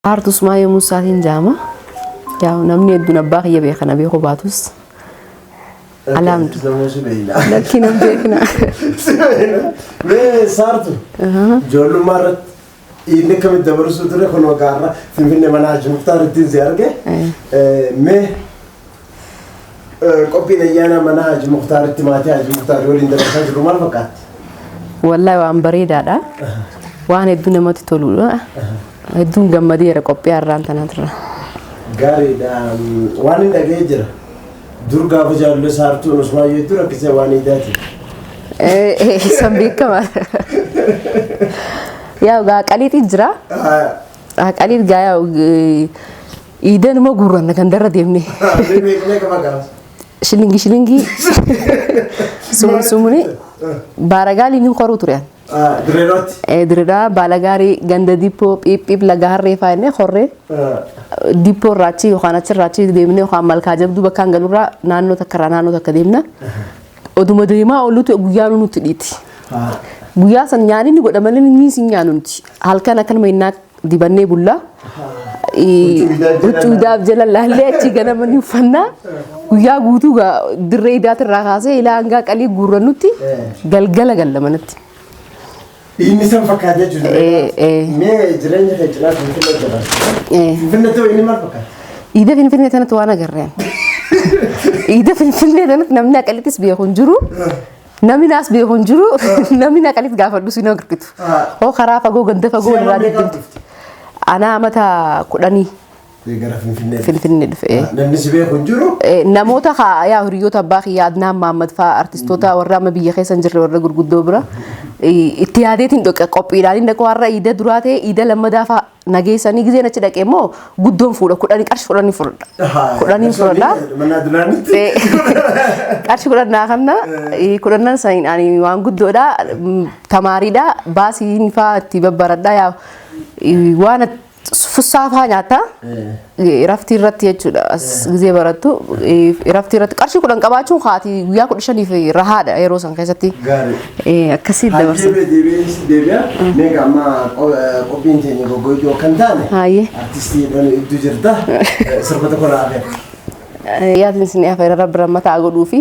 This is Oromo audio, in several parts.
Haartu Usmaayee Muusaatiin jaama. Yaa namni hedduun abbaa kiyya beekan abee koo baatus. Alaamdu. Samuu si beeyna. Lakkii nan beekna. Si beeyna. Mee saartu. Ijoollummaa irratti inni akkamitti dabarsuu ture kun waggaarra Finfinnee mana Haaji Muktaar ittiin si arge. Mee Qophiin ayyaana mana Haji Muktaaritti maatii Haji Muktaari waliin dabarsaa jirru maal fakkaatti? Wallahi waan bareedaadha. Waan hedduu namatti toludha. Hedduun gammadeera qophii har'aan tanaatirra. Gaariidha. Waan hin dhaga'ee jira. Dur gaafa jaalallee saartuun Usmaan yoo itti rakkisee waan hiitaati. San beekama. Yaa gaa qaliitii jira. Qaliit gaa yaa Iidanuma guurranna gandarra deemnee. Mee beeknee qaba gaafas. Shilingii shilingii sumuni sumuni baaragaaliin hin koruu ture. Ah, Dirree irratti. Eh, Dirreedhaa baalagaarii ganda dippoo phiiphiip laga harree fa'aa innee horree Ah, dippoo irraa achi yookaan achirraa achi deemnee yookaan malkaa jabduu bakkaan galurraa naannoo takka irraa naannoo takka deemna. Oduma deemaa ooluutu guyyaan nutti dhiiti. ah. Guyyaa san nyaanni godha malee inni hin nyaannu nuti. Halkan akkanuma innaa dibannee bulla. Huccuu idaaf jala laallee achi ganama ni uffannaa. Guyyaa guutuu gaa dirree idaatirraa kaasee ilaa hangaa qalii guurrannutti galgala galla manatti. Inni san fakkaata Eh, jechuudha. eh. Mee jireenya kee cinaa Finfinnee jedhama. Eh. Finfinnee ta'u inni maal fakkaata? Iida Finfinnee tanatti waan agarreen. Iida Finfinnee tanatti namni aqalittis beeku hin jiru. Namni naas beeku hin jiru. Namni naqanis gaafadhu si hin argitu. Ah. Hoo karaa fagoo ganda fagoo Si'a irraa mammee deemtu. qabdufte. Anaa amata kudhanii Gara Finfinnee. Finfinnee dhufe. eh. Ah, Namni si beeku hin jiru. Eh, Namoota haa- yaa hiriyoota abbaa kiyyaa Adnaan Maammad fa'aa artistoota warra amma biyya keessa hin jirre warra gurguddoo bira eh, itti yaadeetiin dhoqa qophiidhaan inni dhaqu har'a iida duraa ta'e iida lammadaa fa'aa na geessanii gizeen achi dhaqee immoo guddoon fuudha kudhanii qarshi kudhanii fudhadha. Kudhanii fudhadha. Mannaa duraanitti. Eh, qarshi kudhannaa kanna eh, kudhannan san ani waan guddoodha mm, tamaariidha baasiin faa itti babbaradha yaa eh, waan fussaa faa nyaata. Iraftii irratti jechuudha as gizee barattu iraftii irratti qarshii kudhan qabaachuun haati guyyaa kudha shaniif rahaadha yeroo san keessatti Gaarii. akkasii dabarsa. Hajjirra deebi'ees deebi'a. Meeqa amma qo- eh, qophiin keenya goggoituu akka hin taane. Haayee. Artistii jedhanii iddoo jirta. Eh, Sirba tokko naa hafe. Yaadni isin dhiyaafeera rabbi rammataa godhuu fi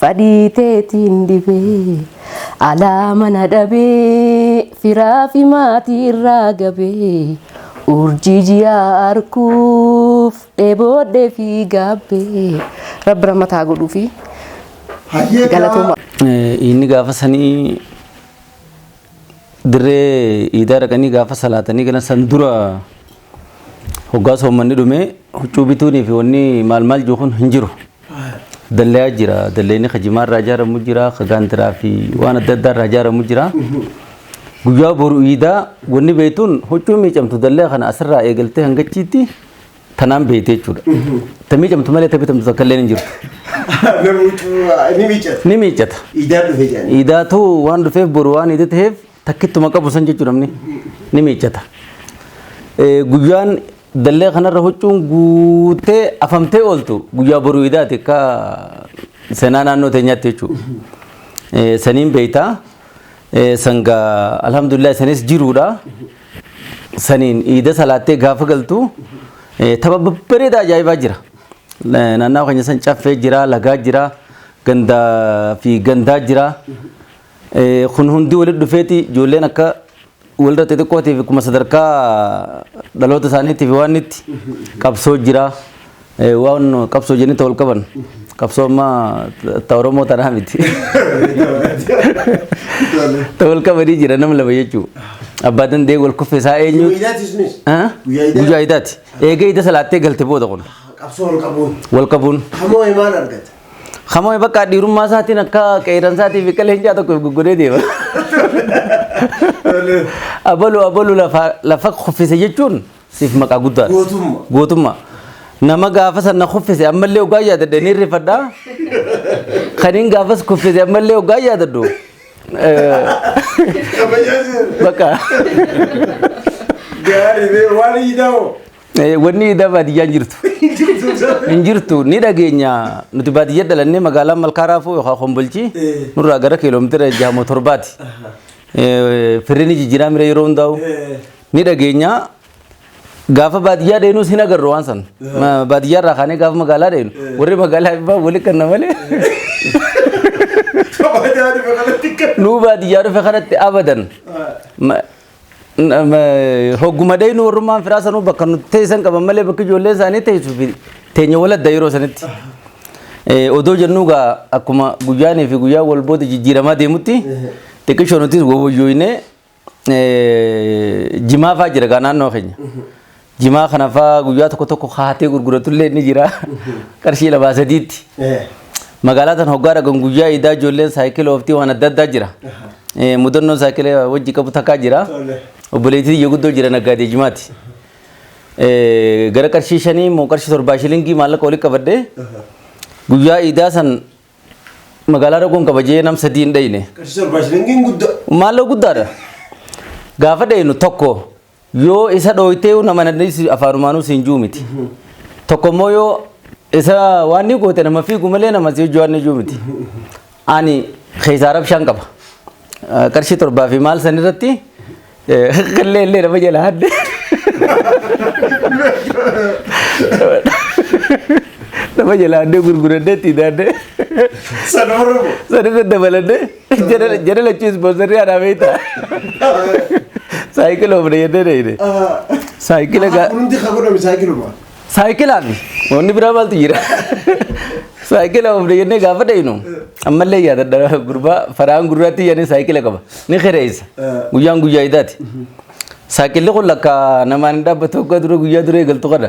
Fadhii teetiin dhibee alaa mana dhabee firaa fi maatii irraa gabee urjii ji'aa arkuuf dheeboodhee fi gaabbee rabbi rahmata haa godhuufi galatooma. Inni gaafa sanii dirree iidaa dhaqanii gaafa salaatanii galan san dura Hoggaa soommanni dhumee huccuu bituunii fi wanni maal maal jiru kun hin jiru. Dallayaa jira. Dallayni ka jimaa irraa ijaaramu jira. Ka gaantiraa fi waan adda addaa irraa ijaaramu jira. Guyyaa boru iidaa wanni beektuun huccuu miicamtu dallaya kana asirraa eegaltee hangachiitti tanaan beekte jechuudha. Ta miicamtu malee ta bitamtu takka illee hin jirtu. Namni miicata. Ni miicata. Iidaan dhufe jedhanii. Iidaatu waan dhufeef boru waan iida ta'eef takkittuma qabu san jechuudha namni ni miiccata. Eh, Guyyaan dallee kanarra huccuun guutee afamtee ooltu guyyaa boruu idaati akka seenaa naannoo teenyaatti jechuudha. Eh, Saniin beeytaa eh, sanga alhamdulillah sanis jiruudha. Saniin iida salaattee gaafa galtu eh, tapha babbareedaa ajaa'ibaa jira. Eh, Naannawaa keenya san caffee jira, lagaa jira, gandaa fi gandaa jira. Kun hundi walitti dhufeeti ijoolleen akka walirra xixiqqootiif akkuma sadarkaa dhaloota isaaniitiif waan itti qabsoo jira. Waan qabsoo jennee wal qaban qabsoo amma ta Oromoo tanaa miti. Ta wal qabanii jira nama lama jechuudha. Abbaa dandee wal kuffee isaa eenyu? Guyyaa idaati. Eegee ida salaattee galte booda kun. Qabsoo wal qabuun. Wal qabuun. Hamoo himaan argate. Hamame bakka dhiirummaa isaatiin akka qeeran isaatii fi qaleencaa tokko goggodee deema. Abalu abalu lafa lafa kuffise jechuun siif maqaa guddaa. Gootummaa. Gootummaa. Nama gaafa sana kuffise ammallee ogaa yaadadhe ni rifadha. Kaniin gaafas kuffise ammallee ogaa yaadadhu. Eh, Kabajaajee. Bakka. Gaarii bee waan hiidhamu. Eh, Wanni idaa baadiyyaa hin jirtu. Hin jirtu ni dhageenya nuti baadiyyaa dhalannee magaalaa malkaa raafuu yookaan kombolchii nurraa gara kiiloomeetira jahamoo torbaati. Eh, Firri ni jijjiiraa mira yeroo hundaa'u ni dhageenya gaafa baadiyyaa deenus hin agarru waan san. Ma- Baadiyyaa irraa kaanee gaafa magaalaa deenu warri magaalaa ibbaa wali kanna malee Kabajaani bakalatti kan. nuu baadiyyaa dhufe kanatti abadan. Ma- Hogguma dhaynu warrummaan firaa sanuu bakka nuti teessan qaban malee bakki ijoollee isaanii teessuu fi teenya waladda yeroo sanitti. Odoo jennuu gaa akkuma guyyaanii fi guyyaa wal booda jijjiiramaa deemutti xiqqishoo nutis wawwayyooyinee jimaafaa jira gaa naannoo keenya. Jimaa kana fa'aa guyyaa tokko tokko kaatee gurguratullee ni jira. Qarshii lamaa sadiitti. Magaalaa tan hoggaa dhagan guyyaa idaa ijoolleen saayikila ooftii waan adda addaa jira. Eh, Mudannoo saayikila wajji qabu takkaa jira. Obboleettii iyya guddoo jira naggaadee jimaati. Eh, Gara qarshii shanii immoo qarshii torbaa shilingii maallaqa olii qabadhee guyyaa idaa san magaalaa dhaquun kabajee nam sadii hin dhayne. Qarshii torbaa shilingiin guddaa. Maalloo guddaadha. Gaafa dhaynu tokko Yoo isa dhooytee yoo nama nadhiisi afaanumaanuu siin juu miti. Tokko immoo yoo isa waan ni goote nama fiigu malee nama si hojii waan ni juu miti. Ani keessaa rabshaan qaba. Eh, Qarshii torbaa fi maal san irratti eh, qillee illee nama jala hadde. Nama jala haddee gurguradde itti daadde. Sana hordofu. Sana irra dabaladde. Jara lachuu ispoonsarrii anaa beekta. Saayikila ofna jennee deeyne. Saayikila gaa. Hundi kan godhame saayikiluma. Saayikilaa fi wanni biraa maaltu jira? Saayikila ofna jennee gaafa deeynu ammallee yaadadha gurbaa faraan gurraatti yaadee saayikila qaba. Ni kireessa. Guyyaan guyyaa idaati. Saayikilli kun lakka namaan hin dhaabbatu akka dura guyyaa dura eegaltu kana.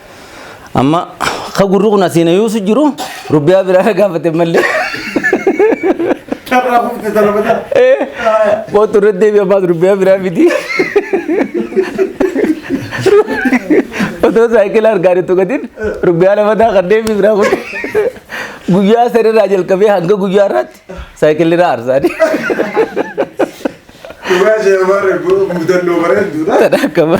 Amma ka gurri kun asiin ayuusu jiru rubbiyaa biraa gaafate malee. Carraa humna dalabataa. Kootu irratti deebi'e ammaas rubbiyaa biraa miti. Otoo saayikila argaa jirtu gatiin rubbiyaa lamataa kan deebi'e biraa kun guyyaa sanirraa jalqabee hanga guyyaa irraatti saayikilli irraa arsaani. Dhugaa ishee waan mudannoo bareeduudha. Akkama.